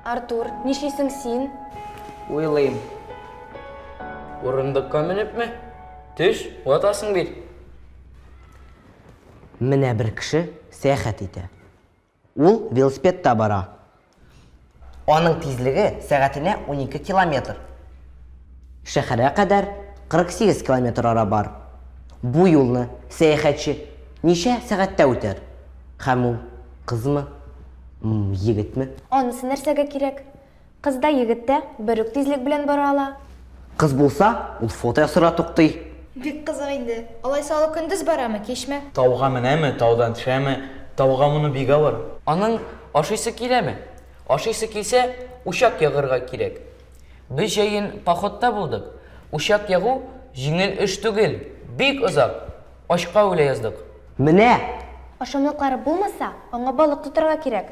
Артур, нишлисең син? Уйлыйм. Урындыкка менепме? Төш, ватасың бит. Менә бер кеше сәяхәт итә. Ул велосипедта бара. Аның тизлеге сәгатенә унике километр. Шәһәргә кадәр 48 километр ара бар. Бу юлны сәяхәтче ничә сәгатьтә үтәр? Һәм ул кызмы, егетме? Анысы нәрсәгә кирәк? Кыз да, егет тә бер үк тизлек белән бара ала. Кыз булса, ул фото ясарга туктый. Бик кызык инде. Алайса ул көндез барамы, кичме? Тауга менәме, таудан төшәме? Тауга мону бик авыр. Аның ашыйсы киләме? Ашыйсы килсә, учак ягырга кирәк. Без җәен походта булдык. Учак ягу җиңел эш түгел, бик озак. Ачка үлә яздык. Менә! Ашамлыклары булмаса, аңа балык тотарга кирәк.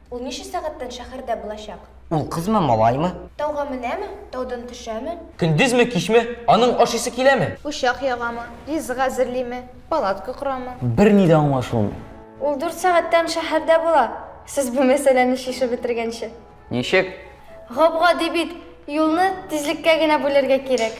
Ул ничә сәгатьтән шәхәрдә булачак? Ул кызмы, малаймы? Тауга менәме, таудан төшәме? Көндезме, кичме? Аның ашыйсы киләме? Учак ягамы, ризык әзерлиме, палатка корамы? Берни дә аңлашылмый. Ул дүрт сәгатьтән шәһәрдә була, сез бу мәсьәләне чишеп бетергәнче. Ничек? Гап-гади бит, юлны тизлеккә генә бүләргә кирәк.